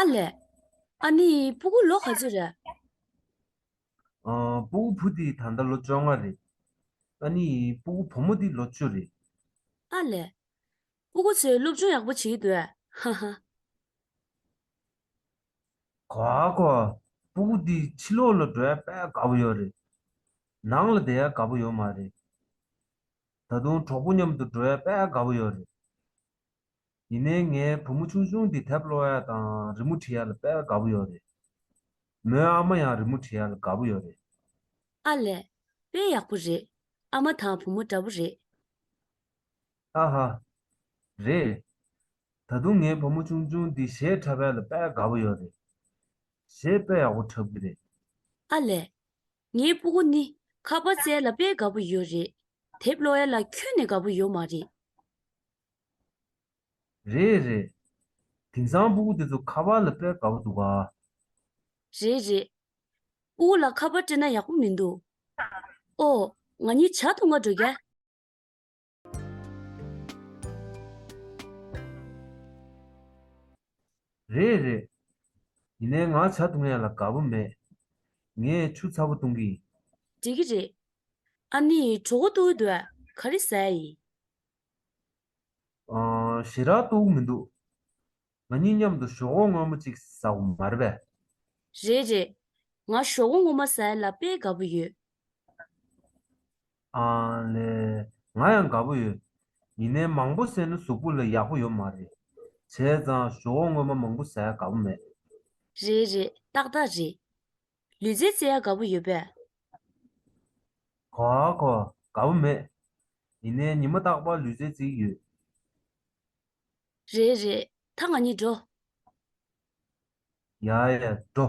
ཨ་ལས། ཨ་ནི་སྤུ་གུ་ལོ་ག་ཚོད་རེད། སྤུ་གུ་བུ་དེའི་ད་ལྟ་ལོ་བཅོ་ལྔ་རེད། ཨ་ནི་སྤུ་གུ་བུ་མོ་དེ་ལོ་བཅུ་རེད། ཨ་ལས། སྤུ་གུ་ཚོས་སློབ་སྦྱོང་ཡག་པོ་བྱེད་ཀྱི་འདུག་ཧ་ཧ། གོ་ཨ་གོ། སྤུ་གུ་དེ་ཕྱི་ལོག་ལ་འགྲོ་ཡ་དཔའ་དགའ་པོ་ཡོད་རེད། ནང་ལ་བསྡད་ཡ་དགའ་པོ་ཡོད་མ་རེད། ད་དུང་གྲོགས་པོ་མཉམ་དུ་འགྲོ་ཡ་དཔའ་དགའ་པོ་ཡོད་རེད། ཡིན་ནའི་ངའི་བུ་མོ་ཆུང་ཆུང་འདི་དེབ་ལོ་ཡ་དང་རི་མོ་བྲི་ཡ་ལ་དཔལ་དགའ་པོ་ཡོད་རེད། མོའི་ཨ་མ་ཡང་རི་མོ་བྲི་ཡ་ལ་དགའ་པོ་ཡོད་རེད། ཨ་ལས། དཔེ་ཡག་པོ་རེད། ཨ་མ་དང་བུ་མོ་འདྲ་བོ་རེད། ཨ་ཧ། རེད། ད་དུང་ངའི་བུ་མོ་ཆུང་ཆུང་འདི་གཞས་འཁྲབ་ཡ་ལ་དཔལ་དགའ་པོ་ཡོད་རེད། གཞས་དཔེ་ཡག་པོ་འཁྲབ་གི་རེད། ཨ་ལས། ངའི་སྤུ་གུ་ནི་ཁ་པར་བཙལ་ལ་དཔལ་དགའ་པོ་ཡོད་རེད། དེབ་ལོ་ཡ་ལ་ཁྱོན་ནས་དགའ་པོ་ཡོད་མ་རེད། རེད་རེད། དེང་སང་སྤུ་གུ་དེ་ཚོ་ཁ་པར་ལ་སྤེལ་དགའ་པོ་འདུག་ཨ། རེད་རེད། སྤུ་གུ་ལ་ཁ་པར་སྤྲེལ་ན་ཡག་པོ་མི་འདུག་ཨོ། ང་གཉིས་བྱ་དུ་ང་འགྲོ་རྒྱ། རེད་རེད། ཡིན་ནའི་ང་བྱ་དུ་ངས་ལ་དགའ་པོ་མེད། ངས་ཆུ་ཚ་པོ་བཏུང་གི་ཡིན། འགྲིག་གི་རེད། ཨ་ནི་གྲོ་གོ་ཏུ་འུ་དུ་ཨ་ག་རེ་ཟ་ཡི། ཞེ་དྲག་ཏུའུ་མི་འདུག། ང་གཉིས་མཉམ་དུ་ཞོག་འོང་སྔོན་མོ་ཅིག་ཟ་འོ་མ་རེད་པས། རེད་རེད། ང་ཞོག་འོང་ངོ་མ་ཟ་ཡ་ལ་དཔེ་དགའ་པོ་ཡོད། ཨང་ལེ། ང་ཡང་དགའ་པོ་ཡོད། ཡིན་ནའི་མང་པོ་ཟས་ནི་གཟུགས་པོ་ལ་ཡག་པོ་ཡོད་མ་རེད། བྱས་ཙང་ཞོག་འོང་སྔོན་མ་མང་པོ་ཟ་ཡ་དགའ་པོ་མེད། རེད་རེད་ཏག་ཏག་རེད། ལུས་རྩལ་རྩེ་ཡ་དགའ་པོ་ཡོད་པས། གོ་ཨ་གོ། དགའ་པོ་མེད། ཡིན་ནའི་ཉི་མ་རྟག་པར་ལུས་རྩལ་རྩེ་གི་ཡོད། རེད་རེད། ད་ང་གཉིས་འགྲོ། ཡ་ཡ། འགྲོ།